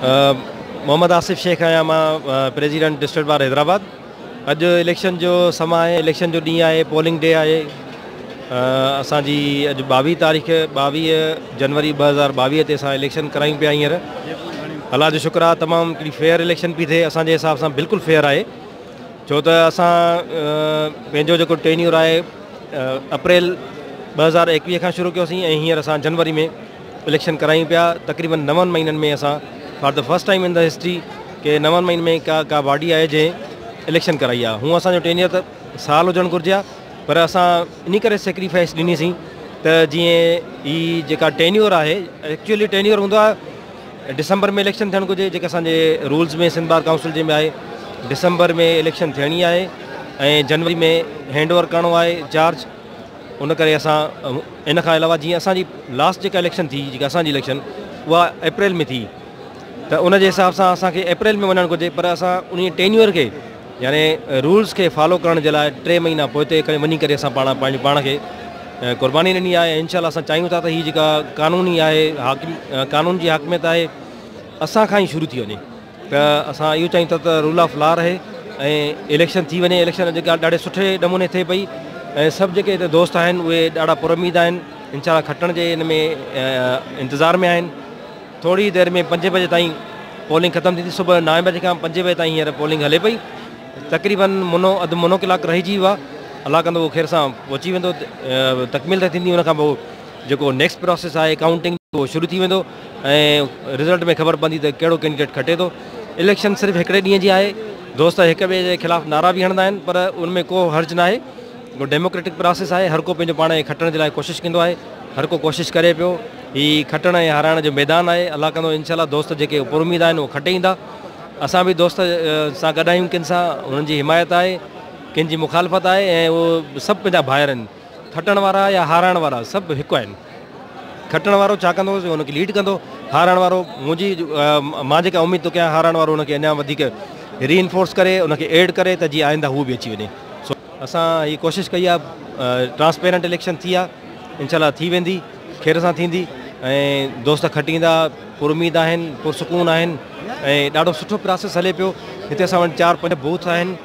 محمد آصف شيخ آهيان مان president district bar Hyderabad اڄ اليڪشن جو سما آهي اليڪشن جو ڏينهن آهي پولنگ ڊي آهي اسان جي اڄ ٻاويهه تاريخ ٻاويهه جنوري ٻه هزار ٻاويهه تي اسان اليڪشن ڪرايون پيا هينئر الله جو شڪر آهي تمام هڪڙي فيئر اليڪشن پي ٿئي اسان جي حساب سان بلڪل فيئر آهي ڇو ته اسان پنهنجو جيڪو ٽينيور آهي اپريل ٻه هزار ايڪويهه کان شروع ڪيوسين ۽ هينئر اسان جنوري ۾ اليڪشن ڪرايون پيا تقريبن نون مهينن ۾ اسان for the first time in the history ڪي نون مهينن ۾ ڪا ڪا باڊي آهي جنهن اليڪشن ڪرائي آهي هون اسان جو ٽينيئر ته سال هجڻ گهرجي آ پر اسان انهي ڪري سيڪريفائس ڏني سين ته جيئن هي جيڪا ٽينيور آهي ايڪچولي ٽينيور هوندو آهي ڊسمبر ۾ اليڪشن ٿيڻ گهرجي جيڪا اسان جي رولز ۾ سنڌ بار ڪائونسل جي ۾ آهي ڊسمبر ۾ اليڪشن ٿيڻي آهي ۽ جنوري ۾ هينڊ اوور ڪرڻو آهي چارج ان ڪري اسان ان کان علاوه جيئن اسان جي لاسٽ جيڪا اليڪشن ٿي جيڪا اسان جي اليڪشن اها اپريل ۾ ٿي ته ان جي حساب سان اسان کي اپريل ۾ وڃڻ گهرجي پر اسان ان ٽينيور کي يعني رولس کي فالو ڪرڻ جي لاء ٽي مهينا پوئتي ڪري وڃي ڪري اسان پاڻ پنهنجي پاڻ کي قرباني ڏني آهي ان شاء الله اسان چاهيون ٿا ته هي جيڪا قانوني آهي حاڪم قانون جي حاڪميت آهي اسان کان ئي شروع ٿي وڃي ته اسان اهو چاهيون ٿا ته رول آف لا رهي ۽ اليڪشن ٿي وڃي اليڪشن جيڪا ڏاڍي سٺي نموني ٿئي پئي ۽ سڀ جيڪي هتي دوست آهن اهي ڏاڍا پر اميد آهن انشاء الله کٽڻ جي ان ۾ انتظار ۾ آهن ٿوري دير ۾ پنجين بجي تائين پولنگ ختم ٿيندي صبح نائين بجي کان پنجين بجي تائين هينئر پولنگ هلي پئي تقريبن منو اڌ منو ڪلاڪ رهجي ويو آهي الله ڪندو اهو خير سان پهچي ويندو تڪميل ته ٿيندي ان کان پوء جيڪو نيڪسٽ پروسيس آهي ڪائونٽنگ جو شروع ٿي ويندو ۽ رزلٽ ۾ خبر پوندي ته ڪهڙو ڪينڊيڊيٽ کٽي ٿو. اليڪشن صرف هڪڙي ڏينهن جي آهي، دوست هڪ ٻئي جي خلاف نعرا به هڻندا آهن پر ان ۾ ڪو حرج ناهي، ڊيموڪريٽڪ پراسيس آهي، هر ڪو پنهنجو پاڻ کي کٽڻ جي لاء ڪوشش ڪندو آهي، هر ڪو ڪوشش ڪري پيو، هي کٽڻ ۽ هارائڻ جو ميدان آهي، الله ڪندو انشاء الله دوست جيڪي پر اميد آهن اهي کٽي ايندا، اسان به دوست سان گڏ آهيون، ڪن سان انهن جي حمايت آهي، ڪن جي مخالفت آهي ۽ اهي سڀ پنهنجا ڀائر آهن. کٽڻ وارا يا هارائڻ وارا سڀ هڪ آهن. کٽڻ وارو ڇا ڪندو سو ان کي ليڊ ڪندو، هارائڻ وارو منهنجي مان جيڪا اميد ٿو ڪيان هارائڻ وارو ان کي اڃا وڌيڪ ري انفورس ڪري ان کي ايڊ ڪري ته جيئن آئنده هو به اچي وڃي سو اسان هي ڪوشش ڪئي آ ٽرانسپيرنٽ اليڪشن ٿي آ انشاء الله ٿي ويندي خير سان ٿيندي ۽ دوست کٽيندا پر اميد آهن پر سڪون آهن ۽ ڏاڍو سٺو پراسيس هلي پيو هتي اسان وٽ چار پنج بوٿ آهن.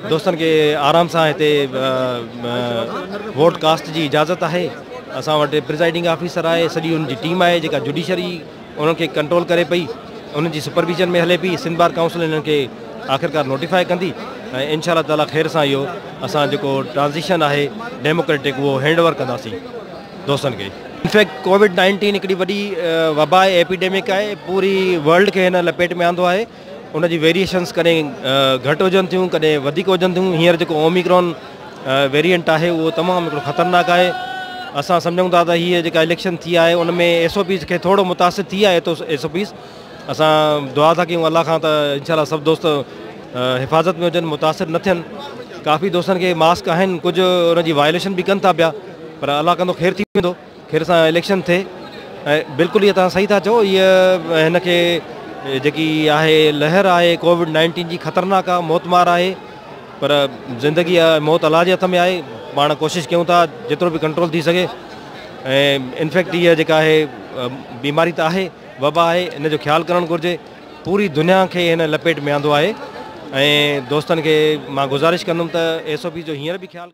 دوستن کي آرام سان هتي ووٽ ڪاسٽ جي اجازت آهي اسان وٽ پرزائيڊنگ آفيسر آهي سڄي ان جي ٽيم آهي جيڪا جوڊيشري انهن کي ڪنٽرول ڪري پئي انهن جي سپرويزن ۾ هلي پئي سنڌ بار ڪائونسل انهن کي آخرڪار نوٽيفائي ڪندي ۽ انشاء الله تعاليٰ خير سان اهو اسان جيڪو ٽرانزيشن آهي ڊيموڪريٽڪ اهو هينڊ اوور ڪنداسين دوستن کي انفيڪٽ ڪووڊ نائنٽين هڪڙي وڏي وبا ايپيڊيمڪ آهي پوري ورلڊ کي هن لپيٽ ۾ آندو آهي ان جي ويريئيشنز ڪڏهن گهٽ هجن ٿيون ڪڏهن وڌيڪ هجن ٿيون هينئر جيڪو اوميڪرون ويريئنٽ آهي اهو تمام هڪڙو خطرناڪ آهي اسان سمجهون ٿا ته هيء جيڪا اليڪشن ٿي آهي ان ۾ ايس او پيز کي ٿورو متاثر ٿي آهي ايس او پيز اسان دعا ٿا ڪيون الله کان ته انشاء الله سڀ دوست حفاظت ۾ هجن متاثر نه ٿين ڪافي دوستن کي ماسڪ آهن ڪجهه ان جي وائليشن به ڪن ٿا پيا پر الله ڪندو خير ٿي ويندو خير سان اليڪشن ٿئي ۽ بلڪل هي توهان صحيح ٿا چئو هي هن کي جيڪي آهي لهر آهي ڪووڊ نائنٽين جي خطرناڪ آهي موت مار آهي پر زندگي موت الله جي هٿ ۾ آهي پاڻ ڪوشش ڪيون ٿا جيترو به ڪنٽرول ٿي سگهي ۽ انفيڪٽ هي جيڪا آهي بيماري ته آهي وبا آهي ان جو خيال ڪرڻ گهرجي پوري دنيا کي هن لپيٽ ۾ آندو آهي ۽ دوستن کي مان گذارش ڪندم ته ايس او پي جو هينئر به خيال